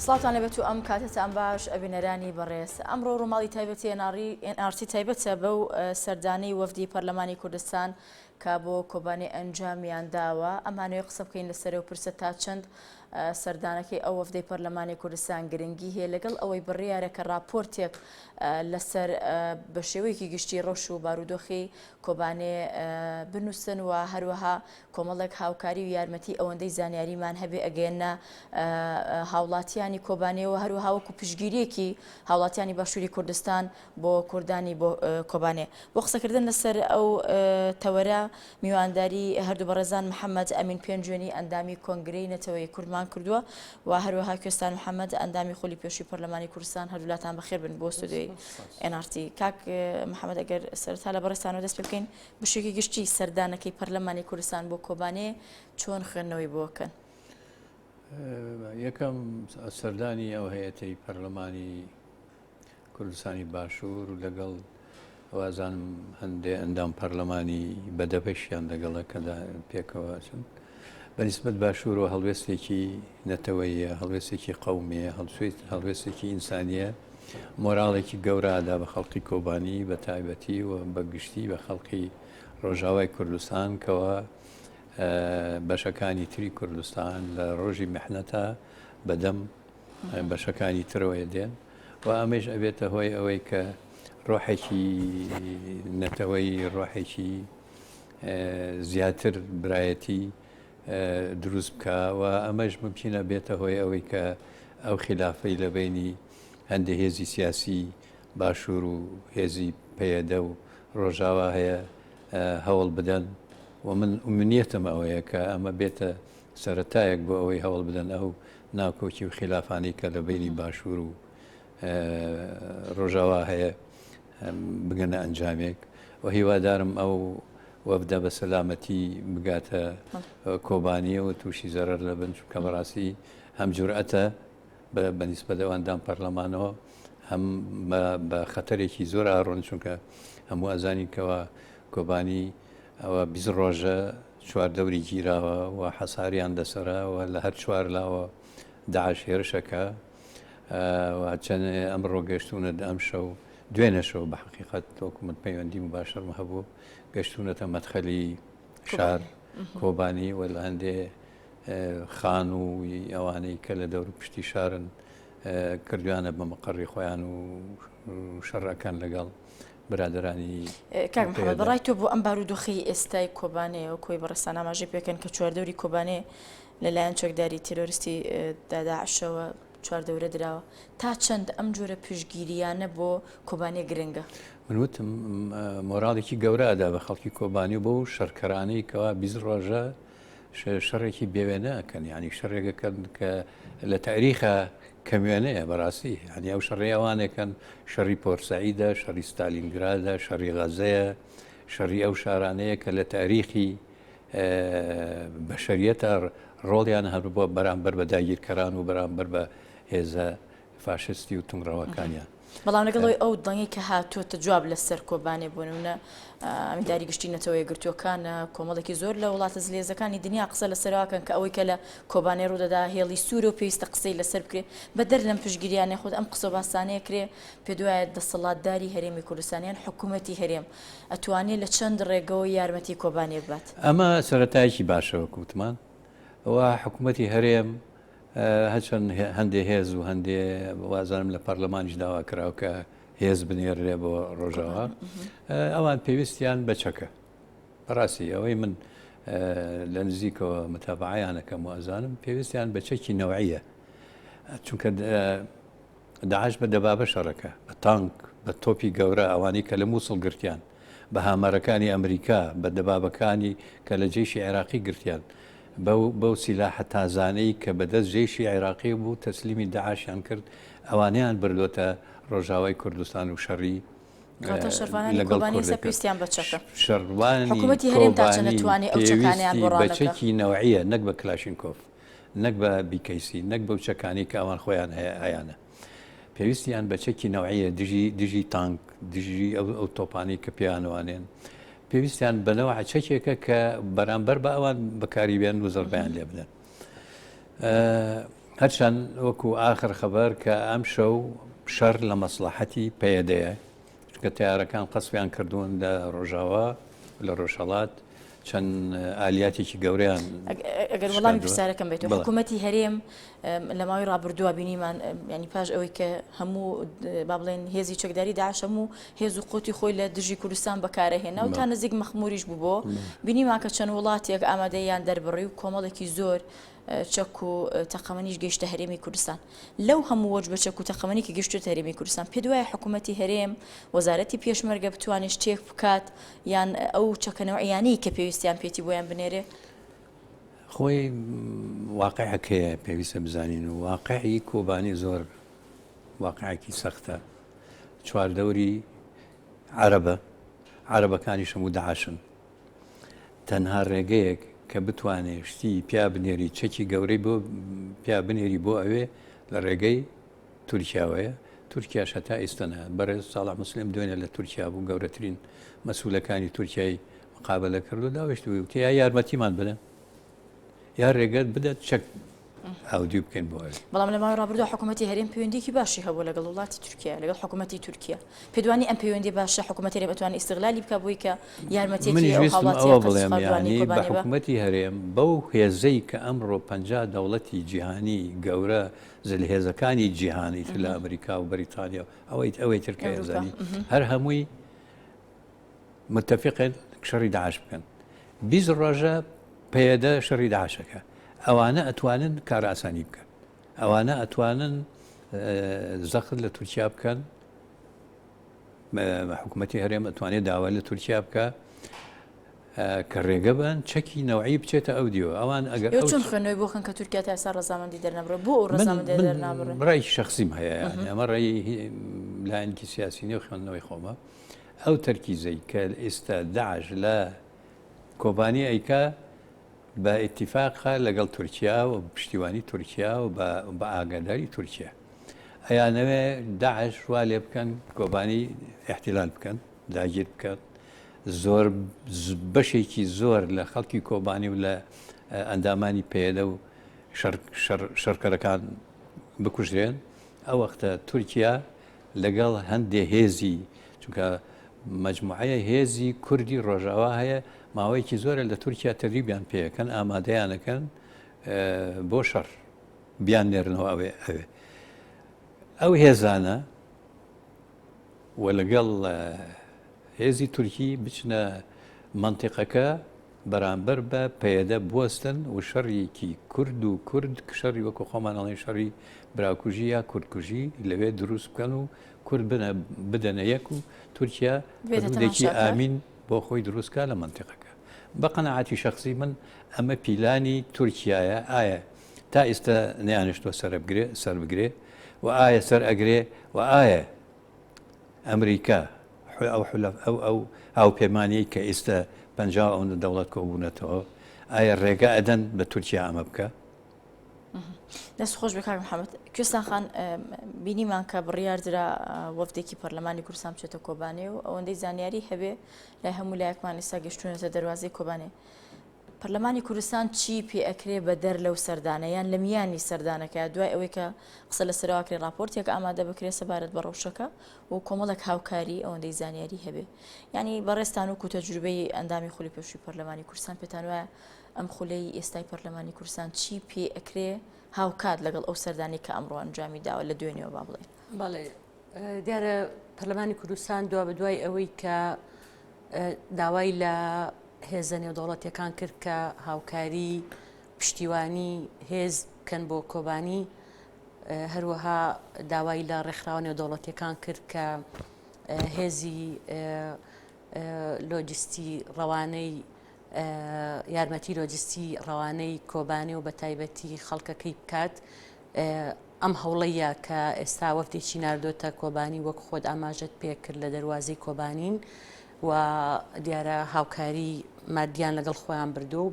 سڵاتان لەبێت و ئەم کاتتان باش ئەبینەرانی بەڕێز ئەمڕۆ ڕووماڵی تایبەتی ئەناڕی ئەنارتی تایبەتە بەو سەردانی وەفدی پەرلەمانی کوردستان کە بۆ کۆبانێ ئەنجامیان داوە، ئەمانەوێت قسە بکەین لەسەر ئەو پرسە تا چەند سەردانەکەی ئەو وەفدەی پەرلەمانی کوردستان گرنگی هەیە، لەگەڵ ئەوەی بڕیارە کە ڕاپۆرتێک لەسەر بە شێوەیەکی گشتی ڕەوش و بارودۆخی کۆبانێ بنووسن و هەروەها کۆمەڵێک هاوکاری و یارمەتی ئەوەندەی زانیاریمان هەبێ ئەگەیەنە هاوڵاتیانی کۆبانێەوە هەروەها وەکو پشگیریەکی هاوڵاتیانی باشووری کوردستان بۆ کوردانی بۆ کۆبانێ. بۆ قسەکردن لەسەر ئەو تەوەرە میوانداری هەردوو بەڕێزان محەمەد ئەمین پێنجوێنی ئەندامی کۆنگرەی نەتەوەیی کوردمان کردووە و هەروەها کوێستان محەمەد ئەندامی خولی پێشووی پەرلەمانی کوردستان هەردوولاتان بەخێر بن بۆ ستۆدیۆی NRT کاک محەمەد ئەگەر سەرەتا لە بەڕێزتانەوە دەست پێ بکەین بشێکی گشتی سەردانەکەی پەرلەمانی کوردستان بۆ کۆبانێ چۆن خوێندنەوەی بۆکەن یەکەم سەردانی ئەو هەیەتەی پەرلەمانی کوردستانی باشور و لەگەڵ وازانم هەندێ ئەندام پەرلەمانی بەدەپەشیان لەگەڵە کە پێکەوە چن بەنسبت باشورەوە هەڵوێستێکی نەتەوەیە هەڵوێستێکی قومیە هەڵسویت هەڵوێستێکی ئینسانیە مۆراڵێکی گەورادا بە خەڵقی کۆبانی بە تایبەتی و بە گشتی بە خەڵقی ڕۆژاوای کوردستان کەەوە بەشەکانی تری کوردستان لە ڕۆژی مححنەتە بەدەم بەشەکانی ترەوەی دێن و ئەمەش ئەبێتە هۆی ئەوەی کە ڕۆحێکی نەتەوەی ڕۆحێکی زیاتر برایەتی دروست بکە و ئەمەش ممکنە بێتە هۆی ئەوەی کە ئەو خلافەی لە بینی هەندێ هێزی سیاسی باشوور و هێزی پەیەدە و ڕۆژاوا هەیە هەوڵ بدەن و من ئومنیەتم ئەوەیە کە ئەمە بێتە سەرەتایەک بۆ ئەوەی هەوڵ بدەن ئەو ناکۆکی و خیلافانەی کە لە بەینی باشوور و ڕۆژاوا هەیە بگەنە ئەنجامێک و هیوادارم ئەو وەفدە بە سەلامەتی بگاتە کۆبانیەوە تووشی زەرەر لە بن چونکە بەڕاستی هەم جورئەتە بە نیسبەت ئەواندان پەرلەمانەوە هەم بە خەتەرێکی زۆر ئاڕۆن چونکە هەموو ئەزانین کەەوە کۆبانی ئەوە بیست ڕۆژە چوار دەوری گیراوە و حەساریان لەسەرە و لە هەر چوار لاوە داعش هێرشەکە و چەند ئەمڕۆ گەشتونە ئەم شەو دوێنە شەو بە حقیقت تۆکومت پەیوەندی مباشرم هەبوو گەشتونەتە مەدخەلی شار کۆبانی و لە هەندێ خان و ئەوانەی کە لە دەور پشتی شارن کردویانە بە مقڕی خۆیان و شەڕەکان لەگەڵ برادرانی کاک محمد بەڕای تۆ بۆ ئەم بارودۆخی ئێستای کۆبانێ و کۆی بەڕێسان ئاماژەی پێکەن کە چواردەوری کۆبانێ لەلایەن چەکداری تیرۆریستی داداشەوە چواردەورە دراوە تا چەند ئەم جۆرە پشگیریانە بۆ کۆبانێ گرنگە من وتم مۆراڵێکی گەورەدا بە خەڵکی کۆبانی و بۆ شەرکەرانەی کەوا بیست ڕۆژە شەڕێکی بێ وێنە ئەکەن یعنی شەڕێک ئەکەن کە لە تاریخە کەموێنەیە بەڕاستی هەنی ئەو شەڕێ ئەوانێکن شەڕی پۆرسعیدە شەڕی ستالینگرادە شەڕی غەزەیە شەڕی ئەو شارانەیە کە لە تاریخی بەشریەتە ڕۆڵیان هەر بۆ بەرامبەر بە داگیرکەران و بەرامبەر بە هێزە فاشستی و توندڕەوەکانیان. بەڵام لەگەڵ ئەوەی ئەو دەنگەی کە هاتووەتە جواب لەسەر کۆبانێ بۆ نموونە ئەمینداری گشتی نەتەوە یەکگرتووەکان کۆمەڵێکی زۆر لە وڵاتە زلێزەکانی دنیا قسە لەسەر واکەن کە ئەوەی کە لە کۆبانێ ڕوودەدا هێڵی سوورە و پێویستە قسەی لەسەر بکرێ بەدەر لەم پشتگیریانە خود ئەم قسە و باسانەیە کرێ پێت وایە دەسەڵاتداری هەرێمی کوردستان یان حکوومەتی هەرێم ئەتوانێ لە چەند ڕێگەوە یارمەتی کۆبانێ ببات؟ ئەمە سەرەتایەکی باشە وەک وتمان و حکوومەتی هەرێم هەرچەند هەندێ هێز و هەندێ وازانم لە پەرلەمانیش داوا کراوە کە هێز بنێررێ بۆ ڕۆژاوا ئەوان پێویستیان بەچەکە بەڕاستی ئەوەی من لە نزیکەوە متابعیانەکەم وازانم پێویستیان بە چەکی نەوەیە چونکە داعش بە دەبابە شەڕەکە، بە تانک، بە تۆپی گەورە، ئەوانەی کە لە موسڵ گرتیان، بە هامەرەکانی ئەمریکا، بە دەبابەکانی کە لە جەیشی عێراقی گرتیان، بەو بەو سیلاحە تازانەی کە بە دەست جەیشی عێراقی بوو تەسلیمی داعشیان کرد، ئەوانەیان بردۆتە ڕۆژاوای کوردستان و شەڕی کەواتە شەڕڤانانی کۆبانی ئێستا پێویستیان بە چەکە. شەڕڤانی کۆبانی پێویستی بە چەکی نەوعییە نەک بە کلاشینکۆف. نەک بە بیکەیسی نەک بەو چەکانی کە ئەوان خۆیان هەیە ئایانە پێویستیان بە چەکی نەوەیە دژی دژی تانک دژی ئەو تۆپانی کە پێیانوانێن پێویستیان بەنەوە چەکێکە کە بەرامبەر بە ئەوان بەکاری بێن و زەربیان لێ بدەن هەرچەند وەکو ئاخر خەبەر کە ئەم شەو شەر لە مەسلحەتی پەیەدەیە کە تارەکان قەسپیان کردوون لە ڕۆژاوا لە ڕۆژهڵات چەند ئالیاتێکی گەورەیان ئەگەر وڵامی پرسیارەکەم بێت حکوومەتتی هەرێم لە ماوەی ڕابردووە بینیمان ینی پاش ئەوەی کە هەموو با بڵێن هێزی چەکداری داشەم و هێز و قوتی خۆی لە دژی کوردستان بەکارەهێنا و تا نزیک مەخموریش بوو بۆ بینیمان کە چەند وڵاتێک ئامادەیان دەربڕی و کۆمەڵێکی زۆر چەک و تەقەمەنیش گەشتە هەرێمی کوردستان لەو هەموو وەج بە چەک و تەقەمەنی کە گەشتێت هەرێمی کوردستان پێ دوایە حکوومەتتی هەرێم وەزارەتی پێشمەرگە بتوانێت شتێک بکات یان ئەو چەکە نەوعییانەی کە پێویستیان پێیەتی بۆیان بنێرێ؟ خۆی واقعەکەیە پێویستە بزانین و واقعی کۆبانی زۆر واقعێکی سەختە چواردەوری عربە عربەکانی شەمو داعشن تەنها ڕێگەیەک کە بتوانێ شتی پیا بنێری چەکی گەورەی بۆ پیا بنێری بۆ ئەوێ لە ڕێگەی تورکیاوەیە، تورکیاش هەتا ئیستا نا. بەڕێز ساڵح موسلیم دوێنێ لە تورکیا بوو، گەورەترین مەسولەکانی تورکیای مقابەلە کرد و داویشتووی وتی یا یارمەتیمان بدەن یا رێگەت بدەت چەک ئاودیوی بکەین بۆ ئەوێ. بەڵام لە ماوەی رابردوودا حکوومەتی هەرێم پەیوەندییەکی باشی هەبووە لەگەڵ وڵاتی تورکیا، لەگەڵ حکوومەتی تورکیا. پێت وانییە ئەم پەیوەندییە باشە حکوومەتی هەرێم ئەتوانێ ئیستغلالی بکا بۆی کە یارمەتییەکی ئەو هاوڵاتییە قەرز خواردووانەی کۆبانێ بە؟ منیش ویستم ئەوە بڵێم یانی بە حکوومەتی هەرێم بەو هێزەی کە ئەمڕۆ پەنجا دەوڵەتی جیهانی گەورە زلهێزەکانی جیهان ئیتر لە ئەمریکا و بەریتانیا و ئەوەیت ئەوەی تر کە ئێزانی هەر هەمووی متتەفقن شەڕی داعش بکەن بیست ڕۆژە پێدە شەڕی داعشەکە ئەوانە ئەتوانن کار ئاسانی بکەن ئەوانە ئەتوانن زەخت لە تورکیا بکەن حکومەتی هەرێم ئەتوانێت داوای لە تورکیا بکە کە ڕێگە بن چەکی نەوەی بچێتە ئەو دیوە ئەوان ئەگەر چۆن خوێنەوەی بۆخن کە تورکیا تا ئێستا ڕزامەندی دەرنەبڕە بۆ ئەو ڕزامەندڕای شخصیم هەیە ئەمە ڕێی لایەنکی سیاسی نێو خوێندنەوەی خۆمە ئەو تەرکیزەی کە ئێستا داعش لە کۆبانی ئەیکا بە ئیتیفاقا لەگەڵ تورکیا و پشتیوانی تورکیا و بە ئاگاداری تورکیا ئەیانەوێ داعش وا لێ بکەن کۆبانی احتیلال بکەن داگیر بکات زۆر بەشێکی زۆر لە خەڵکی کۆبانی و لە ئەندامانی پێدە و شەڕکەرەکان بکوژرێن ئەو وەختە تورکیا لەگەڵ هەندێ هێزی چونکە مەجموعەیە هێزی کوردی ڕۆژاوا هەیە ماوەیەکی زۆرە لە تورکیا تەریبیان پێەکەن ئامادەیانەکەن بۆ شەڕ بیان نێرنەوە ئەوێ ئەوێ ئەو هێزانە و لەگەڵ هێزی تورکی بچنە منطقەکە بەرامبەر بە پەیەدە بوەستن وشەڕیکی کورد و کورد شەڕی وەکو خۆمان ئەڵێن شەڕی براکوژی یا کوردکوژی لەوێ دروست بکەن و کورد بنە بدەنە یەک و تورکیا بێتێکی ئامین بۆ خۆی دروستکە لە منتیقەکە بە قەنەعاتی شخصی من ئەمە پیلانی تورکایە ئایا تا ئێستا نیانشتوە سەربگرێ سەر بگرێ و ئایا سەر ئەگرێ و ئایا ئەمریکا ئەو ئەو هاوپەیمانیەی کە ئیستە پەنجا ئەو دەوڵەت کۆبوونەتەوە ئایا ڕێگە ئەدەن بە تورکیا ئەمە بکە دەست خۆش بە کاک محەممەد کوێستان خان بینیمان کە بڕیاردرا وەفتێکی پەرلەمانی کورسان بچێتە کۆبانێ و ئەوەندەی زانیاری هەبێ لای هەموو لایەکمان ئێستا گەشتونەتە دەواازەی کۆبانێ پەرلەمانی کوردستان چی پێ ئەکرێ بەدەر لەو سەردانە یان لە میانی سەردانەکە دوای ئەوەی کە قسە لەسەرەوە کرێ ڕاپۆرتێک ئامادە بکرێ سەبارەت بە ڕەوشەکە و کۆمەڵێک هاوکاری ئەوەندەی زانیاری هەبێ یانی بەڕێز تانوک و تەجروبەی ئەندامی خولی پێشووی پەرلەمانی کوردستان پێتان وایە ئەم خولەی ئێستای پەرلەمانی کوردستان چی پێ ئەکرێ هاوکات لەگەڵ ئەو سەردانەی کە ئەمڕۆ ئەنجامی داوە لە دوێنێوە با بڵێین بەڵێ دیارە پەرلەمانی کوردستان دوا بە دوای ئەوەی کە داوای لە هێزە نێودەوڵەتیەکان کرد کە هاوکاری پشتیوانی هێز بکەن بۆ کۆبانی هەروەها داوای لە ڕێکخراوە نێودەوڵەتیەکان کرد کە هێزی لۆجستی ڕەوانەی یارمەتی لۆجستی ڕەوانەی کۆبانێ و بەتایبەتی خەڵکەکەی بکات ئەم هەوڵەیە کە ئێستا وەفتێکی ناردۆتە کۆبانی وەک خۆت ئاماژەت پێکرد لە دەواازەی کۆبانین و دیارە هاوکاری مادیان لەگەڵ خۆیان بردو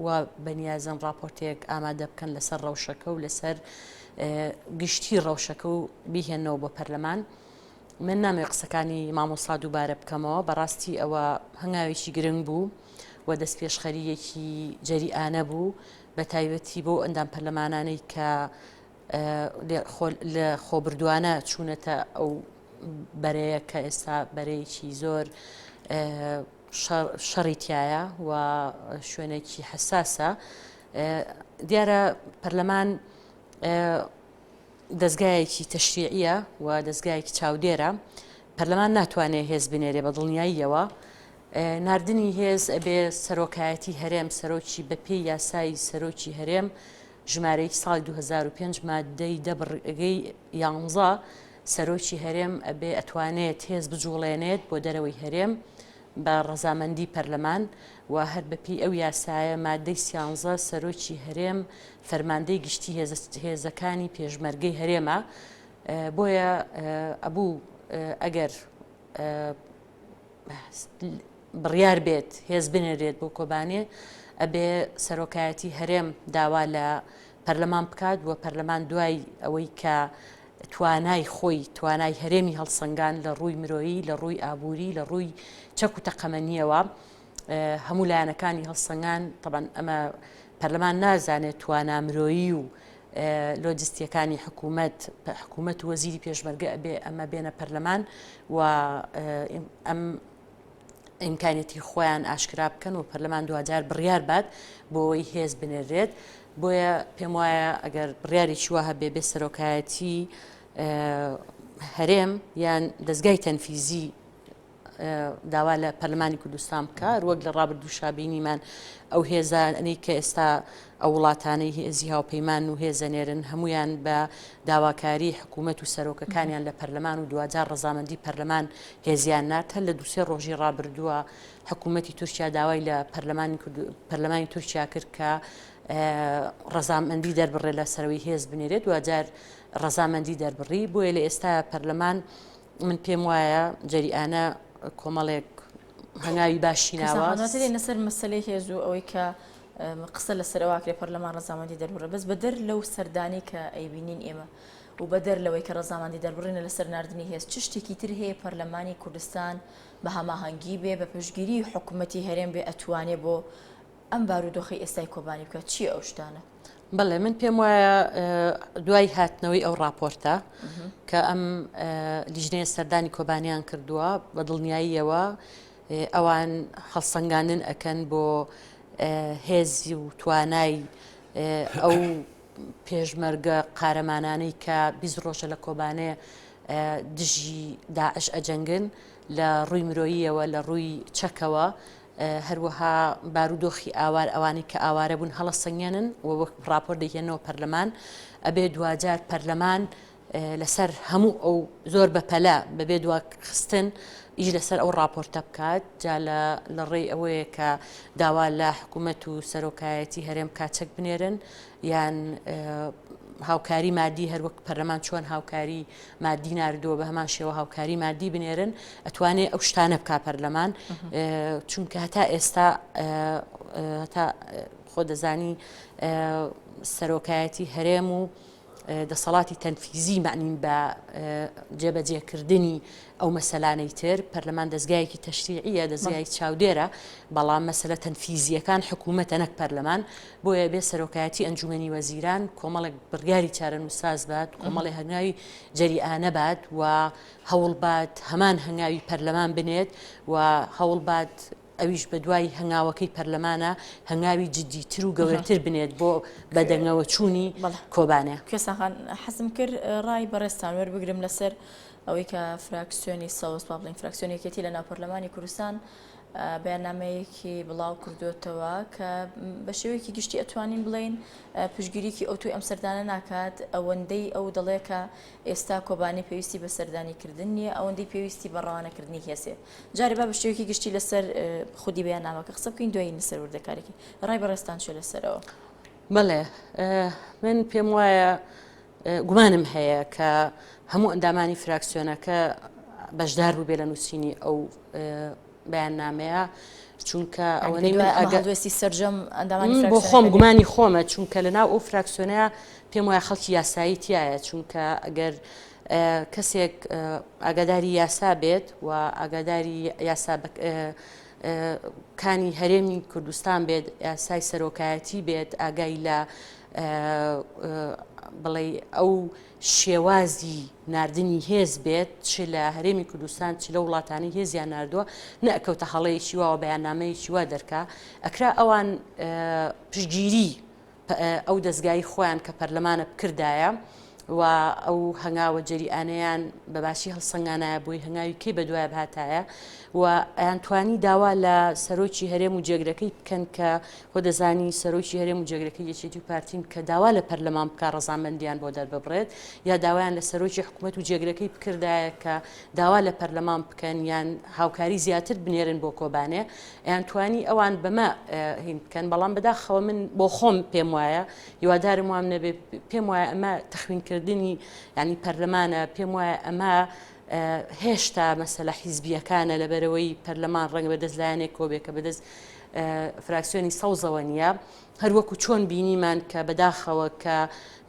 و بەنیازن راپۆرتێک ئامادە بکەن لەسەر ڕەوشەکە و لەسەر گشتی ڕەوشەکە و بیهێنەوە بۆ پەرلەمان من نامەوێت قسەکانی مامۆستا دووبارە بکەمەوە بەڕاستی ئەوە هەنگاوێکی گرنگ بوو و دەست پێشخەریەکی جەریانە بوو بە تایبەتی بۆ ئەندام پەرلەمانانەی کە لە خۆبردوانە چوونەتە ئەو بەرەیە کە ئێستا بەرەیەکی زۆر شەڕی تایە و شوێنێکی حساسە دیارە پەرلەمان دەزگایەکی تەشریعیە و دەزگایەکی چاودێرە، پەرلەمان ناتوانێ هێز بنێرێ بە دڵنیاییەوە، ناردنی هێز ئەبێ سەرۆکایەتی هەرێم، سەرۆکی بە پێی یاسای سەرۆکی هەرێم ژمارە ی ساڵی دوو هەزار و پێنج ماددەی دە بڕگەی یانزە سەرۆکی هەرێم ئەبێ ئەتوانێت هێز بجوڵێنێت بۆ دەرەوەی هەرێم بە ڕەزامەندی پەرلەمان و هەر بە پێی ئەو یاسایە ماددەی سیانزە سەرۆکی هەرێم فەرماندەی گشتی هێزەکانی پێشمەرگەی هەرێمە بۆیە ئەبوو ئەگەر بڕیار بێت هێز بنێرێت بۆ کۆبانێ ئەبێ سەرۆکایەتی هەرێم داوا لە پەرلەمان بکات و پەرلەمان دوای ئەوەی کە توانای خۆی توانای هەرێمی هەڵسەنگان لە ڕووی مرۆیی لە ڕووی ئابووری لە ڕووی چەک و تەقەمەنیەوە هەموو لایەنەکانی هەڵسەنگان تەبەن ئەمە پەرلەمان نازانێت توانا مرۆیی و لۆجستیەکانی حکوومەت حکوومەت وەزیری پێشمەرگە ئەبێ ئەمە بێنە پەرلەمان و ئەم ئیمکانێتی خۆیان ئاشکرا بکەن و پەرلەمان دوجار بڕیار بات بۆەوەی هێز بنێرێت بۆیە پێم وایە ئەگەر بڕیاری چوە هەبێ بێ سەرۆکایەتی هەرێم یان دەستگای تەنفیزی داوا لە پەرلەمانی کوردستان بکە وەک لە ڕابردووشا بینیمان ئەو هێزانەی کە ئێستا ئەو وڵاتانەی هێزی هاوپەیمان و هێزەنێرن هەمویان بە داواکاری حکوومەت و سەرۆکەکانیان لە پەرلەمان و دوجار ڕزامەندی پەرلەمان هێزیان نات هەر لە دوسێ ڕۆژی ڕابردووە حکوومەتی تورکیا داوای لە پەرلەمانی پەرلەمانی تورکیا کرد کە ڕزامەندی دەربڕێ لە سەرەوەی هێز بنێرێت دوجار ڕزامەندی دەربڕی بۆیە لە ئێستا پەرلەمان من پێم وایە جەریانە کۆمەڵێک هەنگاوی باشی ناوە لەسەر مەسلەی هێز و ئەوەی کە قسە لە سەرواکرێ پەرلەمان ڕزامەندی دەربڕە بەس بەدەر لەو سەردانی کە ئەیبینین ئێمە و بەدەر لەوەی کە ڕزامەندی دەربڕینە لە سەرناردنی هێز چ شتێکی تر هەیە پەرلەمانی کوردستان بە هەماهەنگی بێ بە پشگیری حکوومەتتی هەرێم بێ ئەتوانێ بۆ ئەم بارودۆخەی ئێستای کۆبانی بکە چییە ئەو شتانە؟ بەڵێ من پێم وایە دوای هاتنەوەی ئەو راپۆرتە کە ئەم لیژنەیە سەردانی کۆبانیان کردووە بە دڵنیاییەوە ئەوان هەڵسەنگانن ئەکەن بۆ هێزی و توانای ئەو پێشمەرگە قارەمانانەی کە بیست ڕۆژە لە کۆبانێ دژی داعش ئەجەنگن لە ڕووی مرۆییەوە لە ڕووی چەکەوە هەروەها بارودۆخی ئاوار ئەوانەی کە ئاوارە بوون هەڵە سەنگێنن و وەک ڕاپۆر دەیهێنەوە پەرلەمان ئەبێ دواجار پەرلەمان لەسەر هەموو ئەو زۆر بەپەلە بەبێ دوا خستن ئیش لەسەر ئەو راپۆرتە بکات جا لە ڕێی ئەوەیە کە داوا لە حکوومەت و سەرۆکایەتی هەرێم کاچەک بنێرن یان هاوکاری مادی هەروەک پەرلەمان چۆن هاوکاری مادی نردووە بە هەمان شێوە هاوکاری مادی بنێرن ئەتوانێت ئەو شتانە بک پەرلەمان چونکە هەتا ئێستا هەتا خۆ دەزانی سەرۆکایەتی هەرێم و دەسەڵاتی تەنفیزی معنین بە جێبەجێکردنی ئەو مەسەلانەی تر، پەرلەمان دەزگایەکی تەشریعییە، دەزگای چاودێرە، بەڵام مەسەلە تەنفیزییەکان حکوومەتە نەک پەرلەمان، بۆیە ئەبێ سەرۆکایەتی ئەنجوومەنی وەزیران کۆمەڵێک بڕیاری چارەنووسساز بات، کۆمەڵێ هەنگاوی جەریئانە بات و هەوڵ بات هەمان هەنگاوی پەرلەمان بنێت و هەوڵ بات ئەویش بەدوای هەنگاوەکەی پەرلەمانە هەنگاوی جدی تر و گەورەتر بنێت بۆ بەدەنگەوە چوونی کۆبانێ. کوێستانخان حەزم کرد ڕای بەڕێزتان وەربگرم لەسەر ئەوەی کە فراکسیۆنی سەوز با بڵێین فراکسیۆنی یەکێتی لەناو پەرلەمانی کوردستان بەیاننامەیەکی بڵاو کردووەتەوە کە بە شێوەیەکی گشتی ئەتوانین بڵێین پشگیریکی ئەوتوی ئەم سەردانە ناکات ئەوەندەی ئەو دەڵێکە ئێستا کۆبانی پێویستی بە سەردانی کردن نییە ئەوەندەی پێویستی بە ڕەوانەکردنی هێسێ جارێ با بە شێوەیەکی گشتی لەسەر خودی بەیاننامەکە قسە بکەین دوای لەسەر وردەکارێکی ڕای بەڕێستان چێ لەسەرەوە بەڵێ من پێم وایە گومانم هەیە کە هەموو ئەندامانی فراکسیۆنەکە بەشدار بوو بێ لە نووسینی ئەو بەیان نامەیە چونکە ئەوەی من ئەگەستی سرجەم ئەندامانی بۆ خۆم گومانی خۆمە چونکە لە ناو ئەو فراکسیۆنەیە پێم وایە خەڵکی یاسایی تایە چونکە ئەگەر کەسێک ئاگاداری یاسا بێت و ئاگاداری یاسا کانی هەرێمی کوردستان بێت یاسای سەرۆکایەتی بێت ئاگای لە بڵێ ئەو شێوازی نردنی هێز بێت چ لە هەرێمی کوردستان چ لە وڵاتانی هێزیان نردووە نەکەوتە هەڵەیەکی واوە بەیاننامەیەکی وا دەرکا ئەکرا ئەوان پشگیری ئەو دەزگای خۆیان کە پەرلەمانە بکردایە و ئەو هەنگاوە جەریئانەیان بە باشی هەڵسەنگانایە بۆی هەنگاوی کەی بەدوای بهاتایە و ئەیان توانی داوا لە سەرۆکی هەرێم و جێگرەکەی بکەن کە خۆ دەزانی سەرۆکی هەرێم و جێگرەکە یەکێتی و پارتین کە داوا لە پەرلەمان بکە ڕزامەندیان بۆ دەرببڕێت یا داوایان لە سەرۆکی حکوومەت و جێگرەکەی بکردایە کە داوا لە پەرلەمان بکەن یان هاوکاری زیاتر بنێرن بۆ کۆبانێ ئەیانتوانی ئەوان بەمە هین بکەن بەڵام بەداخەوە من بۆ خۆم پێم وایە هیوادارم وام نەبێ پێم وایە ئەمە تەخوینکردنی ینی پەرلەمانە پێم وایە ئەمە هێشتا مەسەلە حیزبیەکانە لەبەرەوەی پەرلەمان ڕەنگ بەدەست لایەنێک کۆبێکە بەدەست فراکسیۆنی سەوزەوە نیە هەر وەکو چۆن بینیمان کە بەداخەوە کە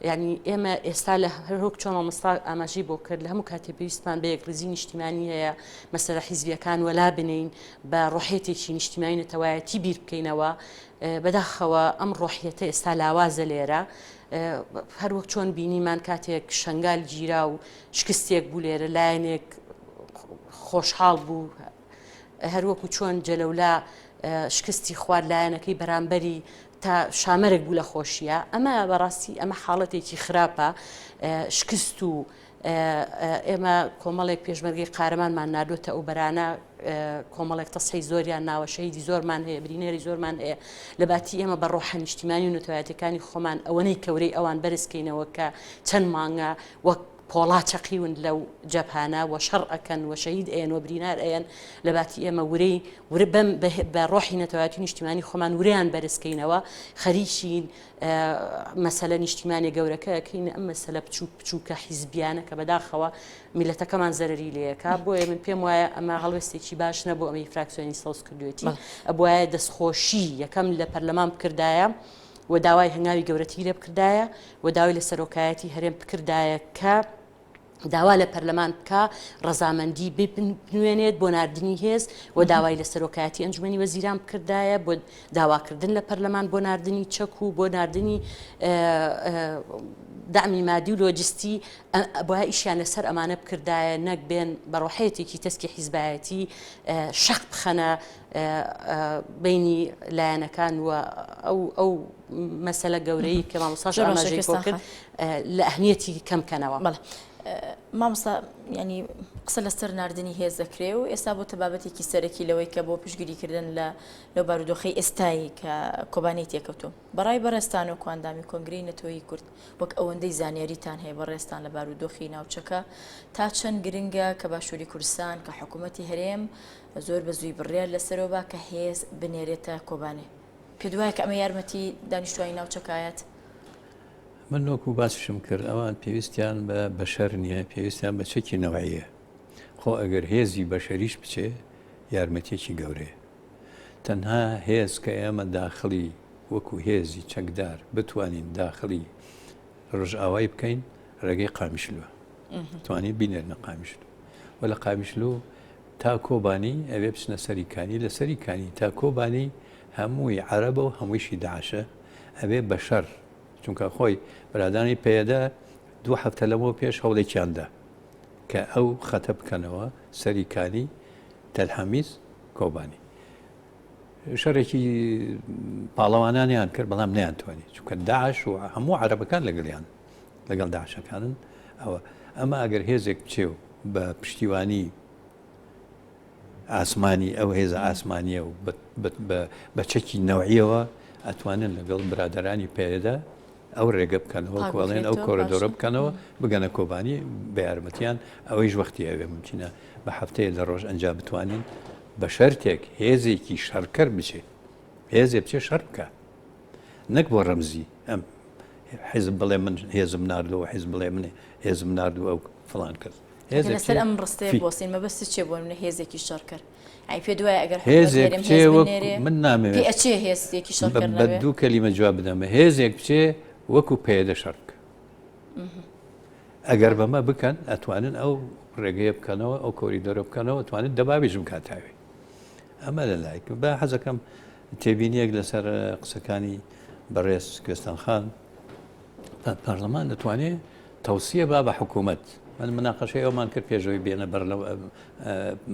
یانی ئێمە ئێستا لە هەرۆک چۆن مامۆستا ئاماژی بۆ کرد لە هەموو کاتێ پێویستمان بە یەکڕیزی نیشتیمانی هەیە مەسەرە حیزبیەکان وەلا بنین بە ڕۆحێتێکی نیشتیمانی نەتەوایەتی بیر بکەینەوە بەداخەوە ئەم ڕۆحیەتە ئێستا لاوازە لێرە هەروەک چۆن بینیمان کاتێک شنگال گیرا و شکستێک بوو لێرە لایەنێک خۆشحاڵ بوو هەروەکو چۆن جەلەولا شکستی خوارد لایەنەکەی بەرامبەری تا شامەرگ بوو لە خۆشیە ئەمە بەڕاستی ئەمە حاڵەتێکی خراپە شکست و ئێمە کۆمەڵێک پێشمەرگی قارەمانمان نردوێتە ئەو بەرانە کۆمەڵێک تەسحی زۆریان ناوە شەهیدی زۆرمان هەیە برینێری زۆرمان هەیە لە باتی ئێمە بە ڕۆحە نیشتیمانی و نوتوایەتەکانی خۆمان ئەوەنەی کەورەی ئەوان بەرزکەینەوە کە چەند مانگە وەک پۆڵا چەقیون لەو جەبهانە وە شەڕ ئەکەن وە شەهید ئەیەن وە برینار ئەیەن لە باتی ئێمە ورەی ورە بەم بە ڕۆحی نەتەوایەتی نیشتیمانی خۆمان وریان بەرزکەینەوە خەریکین مەسەلە نیشتیمانی گەورەکەکەین ئەم مەسەلە بچوک بچووکە حیزبیانە کە بەداخەوە میلەتەکەمان زەرری لەکە بۆیە من پێم وایە ئەمە هەڵوێستێکی باش نەبوو ئەمەی فراکسیۆنی سەوز کردوێتی ئەبواە دەستخۆشی یەکەم لە پەرلەمان بکردایە. و داوای هەنگاوی گەورەتیی لێ بکردایە و داوای لە سەرۆکایەتیی هەرێم بکردایە کە داوا لە پەرلەمان بکا ڕەزامەندیی بنوێنێت بۆ ناردنی هێز و داوای لە سەرۆکایەتیی ئەنجومەنی وەزیران بکردایە بۆ داواکردن لە پەرلەمان بۆ ناردنی چەک و بۆ ناردنی دەعمی مادی و لۆجستی با ئیشیان لەسەر ئەمانە بکردایە نەک بێن بە ڕۆحیەتێکی تەسکی حیزبایەتیی شەق بخەنە بینی لایەنەکان و ئەو مەسەلە گەورەی کە مامۆساش ئاماژەی بۆ کرد لە ئەهمیەتی کەم کەنەوە بەڵێ مامۆستا ینی قسە لەسەر نردنی هێز دەکرێ و ئێستا بۆ تەبابەتێکی سەرەکی لەوەی کە بۆ پشگیریکردن لە لە بارودۆخی ئێستایی کە کۆبانەی تێکەوتو بەڕای بەڕێستان و کواندامی کۆنگری نەتۆیی کورد وەک ئەوەندەی زانیاریتان هەیە بەڕێستان لە بارودۆخی ناوچەکە تا چەند گرنگە کە باشووری کوردستان کە حکوومەتتی هەرێم زۆر بە زووی بڕیار لەسەرەوە با کە هێز بنێرێتە کۆبانێ. پێت وایە کە ئەمە یارمەتی دانیشتوانی ناوچەکە ئایەت؟ من وەکو باسیشم کرد ئەوان پێویستیان بە بەشەر نییە، پێویستیان بە چەکی نەوعییە. خۆ ئەگەر هێزی بەشەریش بچێ یارمەتییەکی گەورەیە. تەنها هێز کە ئێمە داخڵی وەکو هێزی چەکدار بتوانین داخڵی رۆژئاوای بکەین رێگەی قامیشلوە. توانیت بینێرنە قامیشلو و لە قامیشلو تا کۆبانی ئەوێ بچنە سەری کانی لە سەری کانی تا کۆبانی هەمووی عەرەبە و هەموویشی داعشە ئەبێ بە شەر چونکە خۆی برادانی پەیەدە دوو هەفتە لەمەوە پێش هەوڵێکیان دا کە ئەو خەتە بکەنەوە سەری کانی تەلحەمیز کۆبانی شەرێکی پاڵەوانانیان کرد بەڵام نیان توانی چونکە داعش و هەموو عەرەبەکان لەگەڵیان لەگەڵ داعشەکانن ئەوە ئەمە ئەگەر هێزێک بچێ و بە پشتیوانی ئاسمانی ئەو هێزە ئاسمانیە و بە چەکی نەوعیەوە ئەتوانن لەگەڵ برادرانی پێدا ئەو ڕێگە بکەنەوە کۆڵێن ئەو کۆرەدۆرە بکەنەوە بگەنە کۆبانی بە یارمەتیان ئەوەیش وەختی ئەوێ ممکنە بە هەفتەیە لە ڕۆژ ئەنج بتوانین بە شەرتێک هێزێکی شەڕکەر بچێت هێزێ بچێ شەر بکە نەک بۆ ڕەمزی ئەم حیزب بڵێ من هێزم ناردەوە حیز بڵێ من هێزم نردوو ئەو فڵان کرد هێزەکەسەر ئەم ڕستەیە بۆسین مەبەست چێ بۆ منە هێزێکی شەڕ کرد ئەی پێ دوای ئەگەر هێزێک من نامێ ئەچێ هێزێکی شەڕ بە دوو کەلیمە جواب بدەمە هێزێک بچێ وەکو پێدە شەڕک ئەگەر بەمە بکەن ئەتوانن ئەو ڕێگەیە بکەنەوە ئەو کۆری دەرە بکەنەوە توانێت دەبابیش بکاتاوێ ئەمە لە لایەک با حەزەکەم تێبینیەک لەسەر قسەکانی بەڕێز کوێستان خان پەرلەمان دەتوانێت تەوسیە با بە حکوومەت من مناقەشەی ئەومان کرد پێشەوەی بێنە بەر لەو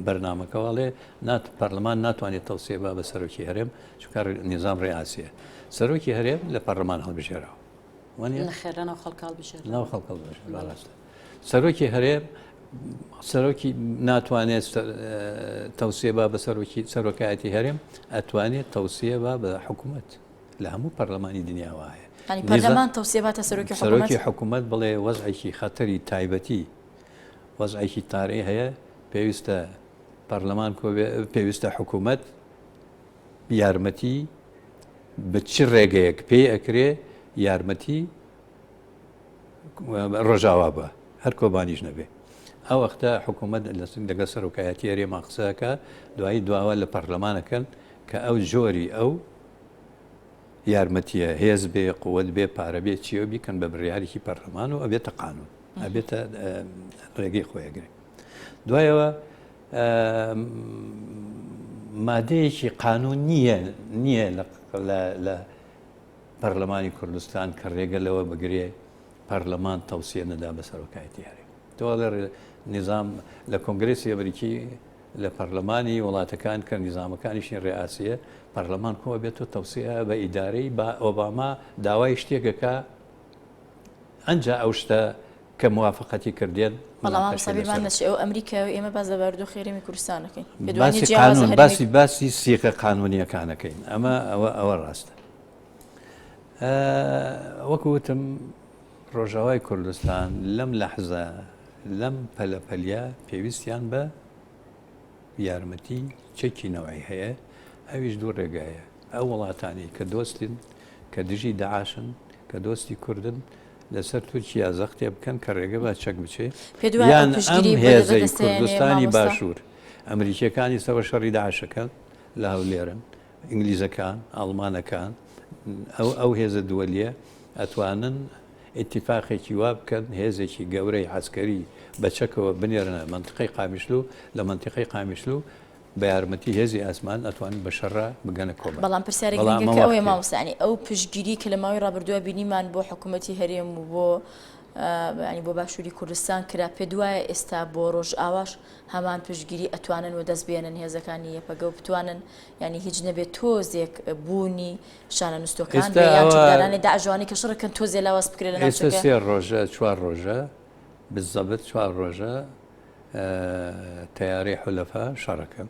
بەرنمەکەواڵێ نات پەرلەمان ناتوانێت تەوسێ با بە سەرۆکی هەرێم چکار نظام ڕێئاسیە سەرۆکی هەرێم لە پەرلەمان هەڵبژێراوە وانە خێرانەوە خەڵکاڵ بژێر ناو خەڵکەڵ بژێر سەرۆکی هەرێم سەرۆکی ناتوانێت تەوسێ بە بە سەرۆکی سەرۆکایەتی هەرێم ئەتوانێت تەوسێ بە بە حکوومەت لە هەموو پەرلەمانی دنیا وایە پەرلەمان تەوسێباتە سەرۆکی سەرۆکی حکوومەت بڵێ وەزعێکی خەتەری تایبەتی وەزعێکی تارەی هەیە پێویستە پەرلەمان پێویستە حکوومەت یارمەتی بە چی ڕێگەیەک پێی ئەکرێ یارمەتی ڕۆژاوا بە هەر کۆبانیش نەبێ ئەو وەختە حکوومەت لەسنگ دەگە سەرۆکایەتی هەرێما قسەکە دوایی دواوە لە پەرلەمانەکەن کە ئەو جۆری ئەو یارمەتیە هێز بێ قوت بێ پارە بێ چیە بیکەن بە بڕیارێکی پەرلەمان و ئەبێتە قانون ئەبێتە ڕێگەی خۆیگرێ دوایەوە مادەیەکی قانون نییە نییە لە پەرلەمانی کوردستان کە رێگە لەوە بگرێ پەرلەمان تەوسیە نەدا بە سەرۆکایەتی هەرێم تۆڵێ نیزام لە کۆنگرسی ئەمریکی لە پەرلەمانی وڵاتەکان کە نیزامەکانیشی ڕێئاسیە پەرلەمان کۆ بێت و تەوسیە بە ئیدارەی با ئۆباما داوای شتێکەکە ئەجا ئەو شتە کە موافقەتی کردێن ئەو ئەمریکا و ئێمە باز لەباردو خێرمی کوردستانەکەین باسی باسی سیقە قانونیەکانەکەین ئەمە ئەوە ئەوە ڕاستە وەکو وتم ڕۆژاوای کوردستان لەم لەحزە لەم پەلەپەلیا پێویستیان بە یارمەتی چەکی نەوەی هەیە ئەویش دوو ڕێگایە ئەو وڵاتانی کە دۆستین کە دژی داعاشن کە دۆستی کوردن لەسەر تورکیا زەختێ بکەن کە ڕێگە بە چەک بچێت یان هێزی کوردستانی باشوور ئەمریکیەکانی سەوە شەڕی داعشەکە لە هەولێرن ئینگلیزەکان، ئاڵمانەکان، ئەو ئەو هێزە دووەلییە ئەتوانن ئیتیفاقێکی وا بکەن هێزێکی گەورەی عەسکەری بە چەکەوە بنێرنە مەنتقەی قامیشلو، لە مەنتقەی قامیشلو بە یارمەتی هێزی ئاسمان ئەتوانن بە شەڕا بگەنە کۆبان. بەڵام پرسیارە گرنگەکە ئەوەیە مامۆستا یانی ئەو پشتگیریی کە لە ماوەی ڕابردووە بینیمان بۆ حکوومەتی هەرێم و بۆ یانی بۆ باشووری کوردستان کرا، پێت وایە ئێستا بۆ ڕۆژئاواش هەمان پشتگیری ئەتوانن وەدەست بێنن هێزەکانی یەپەگە و بتوانن یانی هیچ نەبێت تۆزێک بوونی شانە نوستەکان یانانی داژوانی کە شڕکن تۆزێ لاواز بکرێت سێ ڕۆژە چوار ڕۆژە بزەبت چوار ڕۆژە تیارەی حلەفە شەڕەکەم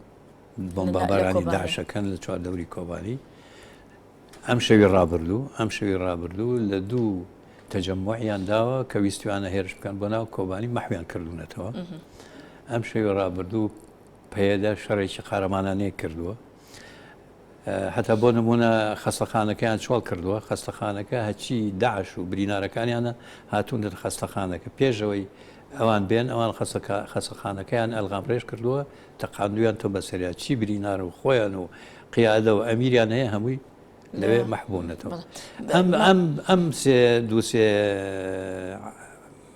بۆمبابارانی داعشەکەن لە چوار دەوری کۆبانی ئەم شەوی ڕابردوو ئەم شەوی ڕابردوو لە دوو تەجەموعیان داوە کە ویستوانە هێرش بکەن بۆ ناو کۆبانی مەحویان کردوونەتەوە ئەم شەوی ڕابردوو پەیەدە شەڕێکی قارەمانانەی کردووە هەتا بۆ نمونە خەستەخانەکەیان چۆڵ کردووە خەستەخانەکە هەچی داعش و برینارەکانیانە هاتوونە خەستەخانەکە پێشەوەی ئەوان بێن ئەوان خەسەکە خەسەخانەکەیان ئەلغام ڕێژ کردووە تەقاندویان تۆ بەسەریا چی برینار و خۆیان و قیادە و ئەمیریان هەیە هەمووی لەوێ مەحبوونەتەوە ئەم ئەم ئەم سێ دووسێ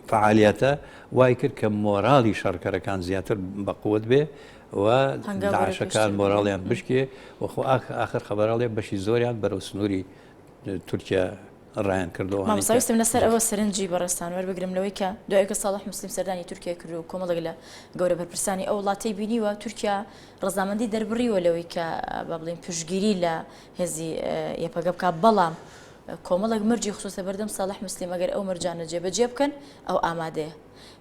فەعالییەتە وای کرد کە مۆراڵی شەڕکەرەکان زیاتر بە قوت بێ و داعشەکان مۆراڵیان بشکێ و خۆ ئاخر خەبەرەڵێ بەشی زۆریان بەرەو سنووری تورکیا ڕایان کردەوە مامساویستم لەسەر ئەوە سەرنجی بەڕێستان وەربگرم لەوەی کە دوایکە ساڵح مسلیم سەردانی تورکیا کرد و کۆمەڵێک لە گەورە بەرپرسانی ئەو وڵاتی بینیوە تورکیا ڕزامەندی دەربڕیوە لەوەی کە بە بڵین پشگیری لە هێزی یەپەگە بکە بەڵام کۆمەڵێک مەرجی خستۆتە بەردەم ساڵح موسلیم ئەگەر ئەو مەرجانە جێبەجێ بکەن ئەو ئامادەیە.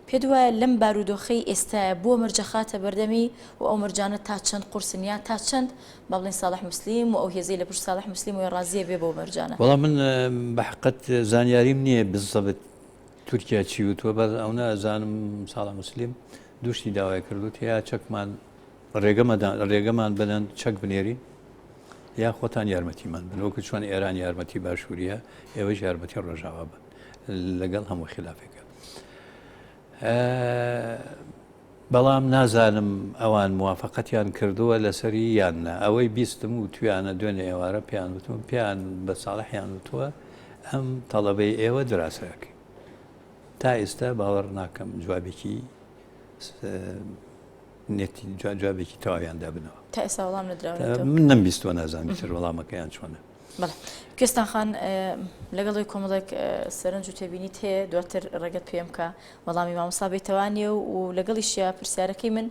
پێت وایە لەم بارودۆخەی ئێستایا بۆ مەرجە خاتە بەردەمی و ئەو مەرجانە تا چەند قورسن یان تا چەند با بڵێین ساڵح موسلیم و ئەو هێزەی لە پشت ساڵح موسلیم وە ڕازیە بێ بەو مەرجانە؟ وەڵا من بە حەقەت زانیاریم نییە بزەبت تورکیا چی وتووە بەس ئەونە ئەزانم ساڵح موسلیم دوو شتی داوای کردووت یا چەکمان ڕێگەمان بدەن چەک بنێرین یا خۆتان یارمەتیمان بن وەکو چۆن ئێران یارمەتی باشووریە ئێوەش یارمەتی ڕۆژاوا بن لەگەڵ هەموو خلافێکە بەڵام نازانم ئەوان موواافقەتیان کردووە لەسەری یاننا ئەوەی بیستم و تویانە دوێنێ ئێوارە پێیان وتون پێیان بە ساڵحیان وتووە ئەم تەڵەبەی ئێوە دراسەکە تا ئێستا باوەڕ ناکەم جوابێکی نێتی جوابێکی تەواویان دابنەوە تا ئێستا وەڵام نەدراون من نەم بیستوە نازان بیتر وەڵامەکەیان چۆنە کوێستان خان لەگەڵی کۆمەڵێک سەرنج و تێبینیت هەیە دواتر ڕێگەت پێم کە وەڵامی مامۆسا بێتوانێ و لەگەڵی شیا پرسیارەکەی من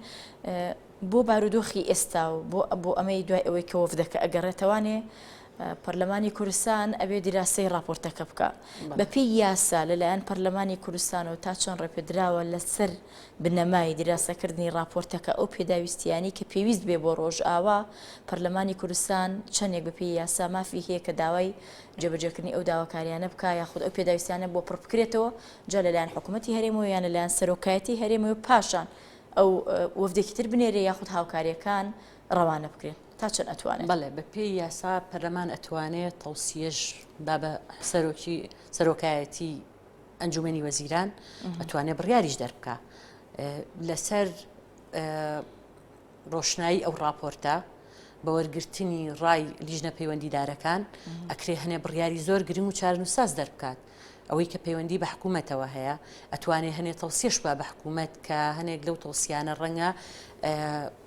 بۆ بارودۆخی ئێستا و بۆ بۆ ئەمەی دوای ئەوەی کە وەفدەکە ئەگەڕێتەوانێ پەرلەمانی کوردستان ئەبێ دیراسەی راپۆرتەکە بکە بەپی یاسا لەلایەن پەرلەمانی کوردستان و تا چۆن ڕێپێدراوە لەسەر بنەمای دیراسەکردنی ڕاپۆرتەکە ئەو پێداویستییانەی کە پێویست بێ بۆ ڕۆژئاوا، پەرلەمانی کوردستان چەندێک بە پێی یاسا مافی هەیە کە داوای جێبەجێکردنی ئەو داواکارییانە بکا یاخود ئەو پێداویستییانە بۆ پڕ بکرێتەوە جا لە لایەن حکوومەتی هەرێمەوە یان لە لایەن سەرۆکایەتیی هەرێمەوە و پاشان ئەو وەفدێکی تر بنێرێ یاخود هاوکارییەکان ڕەوانە بکرێن تا چەند ئەتوانێ؟ بەڵێ بە پێی یاسا پەرلەمان ئەتوانێ تەوسییەش با بە سەرۆکی سەرۆکایەتیی. ئەنجومەنی وەزیران ئەتوانێت بڕیاریش دەربکە لەسەر ڕۆشنایی ئەو راپۆرتە بە وەرگرتنی ڕای لیژنە پەیوەندیدارەکان ئەکرێ هەنێ بڕیاری زۆر گرنگ و چارنووساز دەربکات ئەوەی کە پەیوەندی بە حکوومەتەوە هەیە ئەتوانێت هەنێ تەوسیش بە بە حکوومەت کە هەنێک لەو تەوسیانە ڕەنگە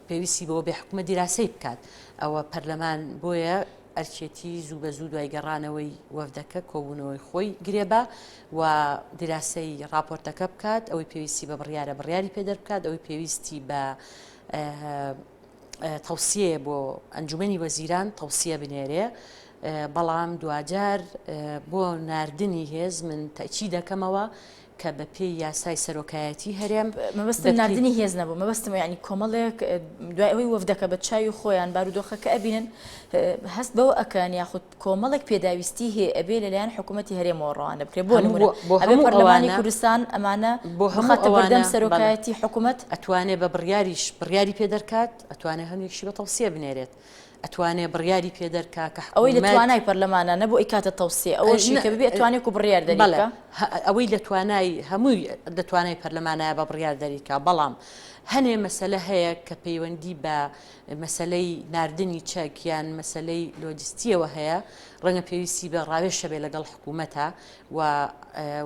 پێویستی بەوە بێ حکوومە دیراسی بکات ئەوە پەرلەمان بۆیە ئەرکێتی زوو بە زوو دوای گەڕانەوەی وەفدەکە کۆبوونەوەی خۆی گرێبە و دیراسەی ڕاپۆرتەکە بکات، ئەوەی پێویستی بە بڕیارە بڕیاری پێ دەربکات، ئەوەی پێویستی بە تەوسیەیە بۆ ئەنجومەنی وەزیران تەوسیە بنێرێ، بەڵام دواجار بۆ ناردنی هێز من تەکی دەکەمەوە کە بە پێی یاسای سەرۆکایەتی هەرێم. مەبەستم ناردنی هێز نەبوو، مەبەستم یانی کۆمەڵێک دوای ئەوەی وەفدەکە بە چاوی خۆیان بارودۆخەکە ئەبینن هەست بەوە ئەکەن یاخود کۆمەڵێک پێداویستی هەیە ئەبێ لەلایەن حکوومەتی هەرێمەوە ڕەوانە بکرێت بۆ نموونە بۆ ئەبێ پەرلەمانی کوردستان ئەمانە بۆ هەماتە بەردەم سەرۆکایەتی حکوومەت ئەتوانێ بە بڕیاریش بڕیاری پێ دەرکات ئەتوانێ هەنوێکشی بە تەوسیە بنێرێت ئەتوانێ بڕیاری پێ دەرکا کە حکوومەت. ئەوەی لە توانای پەرلەمانە نەبوو ئەیکاتە تەوسیە، ئەوەشی کە ببێ ئەتوانێ وەکوو بڕیار دەری بکا. بەڵێ، ئەوەی لە توانای هەمووی لە توانای پەرلەمانایە بە بڕیار دەری کا، بەڵام هەنێ مەسەلە هەیە کە پەیوەندی بە مەسەلەی ناردنی چەک یان مەسەلەی لۆجستییەوە هەیە، ڕەنگە پێویستی بە ڕاوێژ هەبێ لەگەڵ حکوومەتا و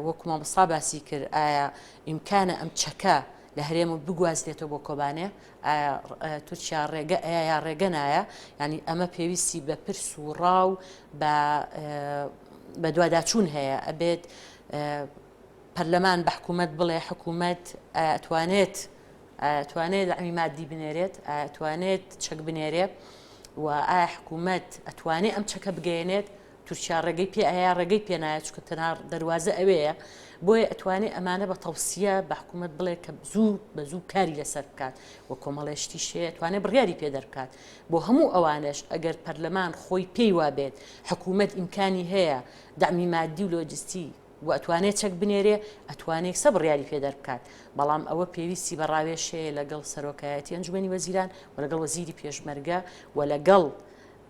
وەکوو مامۆستا باسی کرد ئایا ئیمکانە ئەم چەکە لە هەرێم بگوازرێتەوە بۆ کۆبانێ؟ ئایا تورکیا ڕێگە ئەیا یا ڕێگە نایە ینی ئەمە پێویستی بە پرس و ڕا و بە دوواداچوون هەیە ئەبێت پەرلەمان بە حکوومەت بڵێ حکوومەت ئەتوانێت توانێت ئەمی مادی بنێرێت توانێت چەک بنێرێ و ئایا حکوومەت ئەتوانێت ئەم چەکە بگەێنێت تورکیا ڕێگەی پێ ئەیا ڕێگەی پێ نایە چونکە تەنها دەروازە ئەوەیە بۆیە ئەتوانێ ئەمانە بە تەوسیە بە حکوومەت بڵێ کە زوو بە زوو کاری لەسەر بکات و کۆمەڵێشتی شێ توانێت بڕیاری پێ دەرکات بۆ هەموو ئەوانش ئەگەر پەرلەمان خۆی پێی وابێت حکوومەت ئیمکانی هەیە دامی مادی و لۆجستی و ئەتوانێت چەک بنێرێ ئەتوانێت سە بڕیاری پێ دەربکات بەڵام ئەوە پێویستی بە ڕاوێشەیە لەگەڵ سەرۆکایەتی ئەنجومی وەزیران و لەگەڵ وەزیری پێشمەرگە و لەگەڵ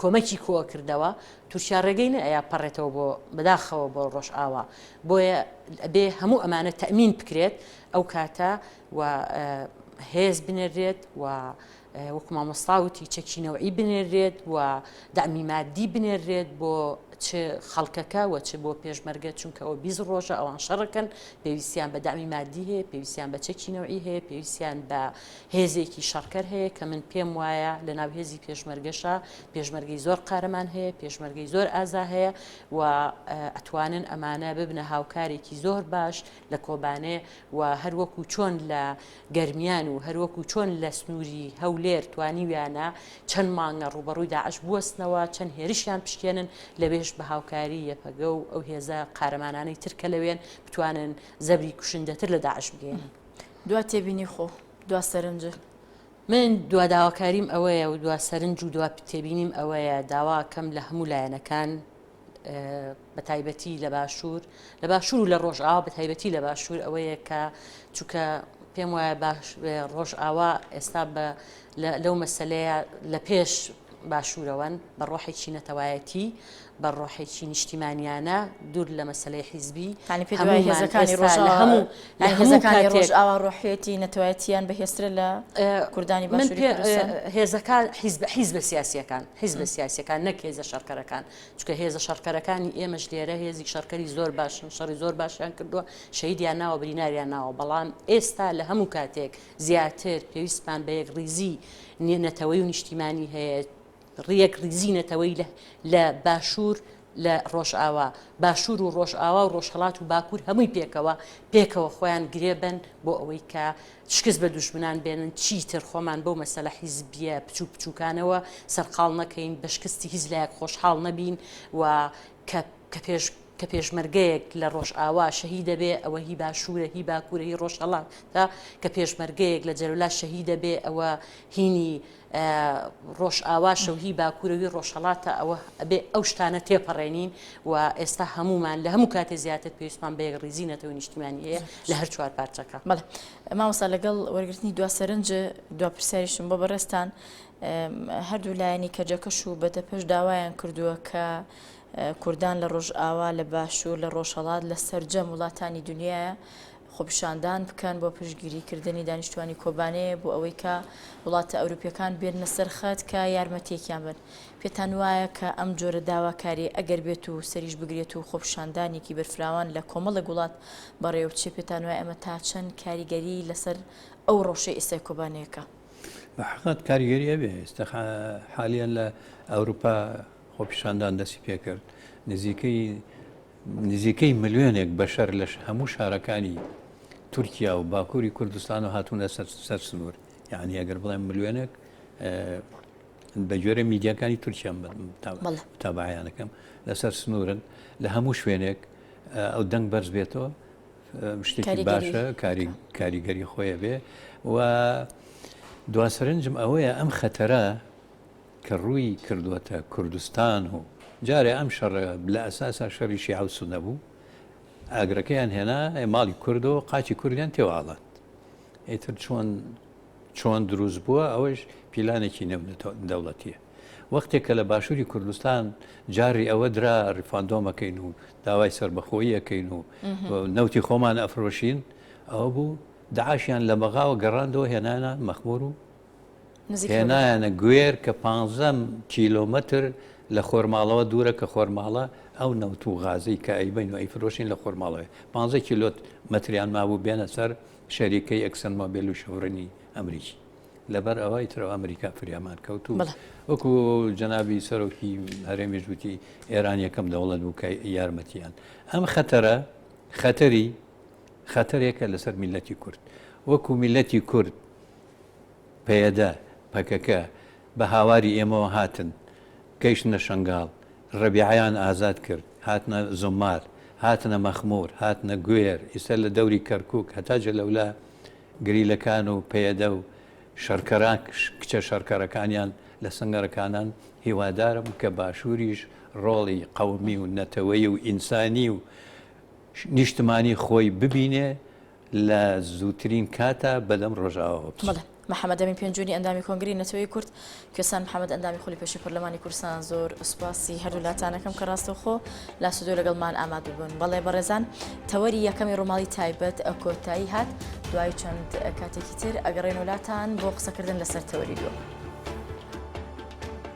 کۆمەکی کۆ کردەوە تورکیا ڕێگەی نە ئەیا پەڕێتەوە بۆ بەداخەوە بۆ ڕۆژئاوا بۆیە بێ هەموو ئەمانە تەمین بکرێت ئەو کاتە و هێز بنێرێت و وەکو مامۆستاوتی چەکینەوەی بنێرێت و دامی مادی بنێرێت بۆ چ خەڵکەکە و چ بۆ پێشمەرگە چونکەەوە بیز ڕۆژە ئەوان شەڕەکەن پێویستیان بە دامی مادی هەیە پێویستیان بە چەکینەوەی هەیە پێویستیان بە هێزێکی شەڕکەر هەیە کە من پێم وایە لە ناو هێزی پێشمەرگەشە پێشمەرگەی زۆر قارەمان هەیە پێشمەرگەی زۆر ئازا هەیە و ئەتوانن ئەمانە ببنە هاوکارێکی زۆر باش لە کۆبانێ و هەروەکو چۆن لە گەرمیان و هەروەکو چۆن لە سنووری هەولێر توانیویانە چەند مانگە ڕوبەڕووی داعش بوەستنەوە چەند هێرشیان پشکێنن لەوێش بە هاوکاری یەپەگە و ئەو هێزە قارەمانانەی ترکە لەوێن بتوانن زەبری کوشندەتر لە داعش بگێنن. دوا تێبینی خۆ دوا سەرنجە. من دوا داواکاریم ئەوەیە و دوا سەرنج و دوا تێبینیم ئەوەیە داواکەم لە هەموو لایەنەکان بە تایبەتی لە باشوور لە باشوور و لە ڕۆژئاوا بە تایبەتی لە باشوور ئەوەیە کە چونکە پێم وایە باش ڕۆژئاوا ئێستا بە لەو مەسلەیە لە پێش باشوورەوەن بە ڕۆحێکی نەتەوایەتی بە ڕۆحێکی نیشتیمانیانە دوور لە مەسەلەی حیزبی یانی پێت وایە هەموومان هێزەکانی ئێستا ڕۆژاوا لە هەموو لە یانی هەموو هێزەکانی کاتێک ڕۆژاوا ڕۆحیەتی نەتەوایەتییان بەهێزترە لە کوردانی من باشووری پێ کوردستان؟ هێزەکان حیزب حیزبە سیاسیەکان حیزبە سیاسیەکان نەک هێزە شەڕکەرەکان چونکە هێزە شەڕکەرەکانی ئێمەش لێرە هێزی شەڕکەری زۆر باشن شەڕی زۆر باشیان کردووە شەهیدیان ناوە بریناریان ناوە بەڵام ئێستا لە هەموو کاتێک زیاتر پێویستمان بە یەکڕیزی نی- نەتەوەی و نیشتیمانی هەیە ڕیەکڕیزی نەتەوەیی لە لە باشوور لە ڕۆژئاوا، باشوور و ڕۆژئاوا و ڕۆژهەڵات و باکوور هەمووی پێکەوە، پێکەوە خۆیان گرێبەن بۆ ئەوەی کە شکست بە دوژمنان بێنن، چیتر خۆمان بەو مەسەلە حیزبییە بچووک بچووکانەوە سەرقاڵ نەکەین، بە شکستی هیچ لایەک خۆشحاڵ نەبین و کە کە پێش کە پێشمەرگەیەک لە ڕۆژئاوا شەهید دەبێ ئەوە هی باشوورە، هی باکوورە، هی ڕۆژهەڵاتە، کە پێشمەرگەیەک لە جەلەلا شەهید دەبێ ئەوە هینی ڕۆژئاواشە و هی باکوورە و هی ڕۆژهەڵاتە، ئەوە ئەبێ ئەو شتانە تێپەڕێنین و ئێستا هەموومان لە هەموو کاتێ زیاتر پێویستمان بە یەکڕیزی نەتەوە نیشتیمانی هەیە لە هەر چوار پارچەکە. بەڵێ مامۆستا لەگەڵ وەرگرتنی دوا سەرنج دوا پرسیاریشم بۆ بەڕێزتان، هەردوو لایەنی کەجەکەش و بەدەپەش داوایان کردووە کە کوردان لە ڕۆژئاوا، لە باشوور، لە ڕۆژهەڵات، لە سەرجەم وڵاتانی دنیایە، خۆپیشاندان بکەن بۆ پشتگیری کردنی دانیشتوانی کۆبانێ بۆ ئەوەی کە وڵاتە ئەوروپیەکان بێننە سەر خەت کە یارمەتیەکیان بن. پێتان وایە کە ئەم جۆرە داواکاریە ئەگەر بێت و سەریش بگرێت و خۆپیشاندانێکی بەرفراوان لە کۆمەڵێک وڵات بەڕێوە بچێت پێتان وایە ئەمە تا چەند کاریگەری لەسەر ئەو ڕەوشەی ئێستای کۆبانێ کە. بە حەقەت کاریگەری ئەبێ ئێستا حالیەن لە ئەوروپا خۆپیشاندان دەستی پێکرد نزیکەی نزیکەی ملیۆنێک بەشەر لە هەموو شارەکانی تورکیا و باکووری کوردستان و هاتوونە سەر سنوور یعنی ئەگەر بڵێن ملیۆنێک بە جۆرە میدیەکانی تورکیان تابعیانەکەم لەسەر سنوورن لە هەموو شوێنێک ئەو دەنگ بەرز بێتەوە شتێکی باشە کاریگەری خۆیە بێ و دواسرنجم ئەوەیە ئەم خەتەرە کە ڕووی کردووەتە کوردستان و جارێ ئەم شەڕە لە ئەساسا شەڕی شیعە و سوننە بوو، ئاگرەکەیان هێنا ماڵی کورد و قاچی کوردیان تێوە ئاڵاند. ئیتر چۆن چۆن دروست بووە ئەوەش پیلانێکی نێو دەوڵەتیە. وەختێک کە لە باشووری کوردستان جاری ئەوە درا ڕیفاندۆم ئەکەین و داوای سەربەخۆیی ئەکەین و نەوتی خۆمان ئەفرۆشین ئەوە بوو داعشیان لە بەغاوە گەڕاندەوە هێنانە مەخمور و هێنایانە گوێر کە پ کیلۆمەتر لە خۆرماڵەوە دوورە کە خۆرماڵە ئەو نەوت و غازی کە ئەیبین و ئەیفرۆشین لە خۆرماڵەوە پ کیلۆت مەتریان مابوو بێنە سەر شەریکەی ئەکسن مۆبیل و شەڕنی ئەمریکی لەبەر ئەوە ئیترەوە ئەمریکا فریامان کەوت و وەکو جەنابی سەرۆکی هەرێمی ژووتی ئێران یەکەم دەوڵەت بوو کە یارمەتیان ئەم خەتەرە خەتەری خەتەرێکە لەسەر میلەتی کورد وەکو میلەتی کورد پەیەدە، پەکەکە، بە هاواری ئێمەوە هاتن، گەیشتنە شەنگاڵ، ڕەبیعەیان ئازاد کرد، هاتنە زومار، هاتنە مەخموور، هاتنە گوێر، ئیستا لە دەوری کەرکووک هەتا جەلەولا گریلەکان و پەیەدە و شەڕکەرا کچە شەڕکەرەکانیان لە سەنگەرەکانان، هیوادارم کە باشووریش ڕۆڵی قەومی و نەتەوەیی و ئینسانی و نیشتمانی خۆی ببینێ، لە زووترین کاتا بەدەم ڕۆژاواوە بچن. بەڵێ. محەمەد ئەمین پێنجوونی ئەندامی کۆنگرەی نەتەوەیی کورد، کوێستان محەمەد ئەندامی خولی پێشووی پەرلەمانی کوردستان زۆر سوپاسی هەردوو لاتانەکەم کە ڕاستەوخۆ لاس و دۆ لەگەڵمان ئامادە بوون. بەڵێ بەڕێزان تەوەری یەکەمی ڕووماڵی تایبەت کۆتایی هات، دوای چەند کاتێکی تر ئەگەڕێینەوە لاتان بۆ قسەکردن لەسەر تەوەری دووەم.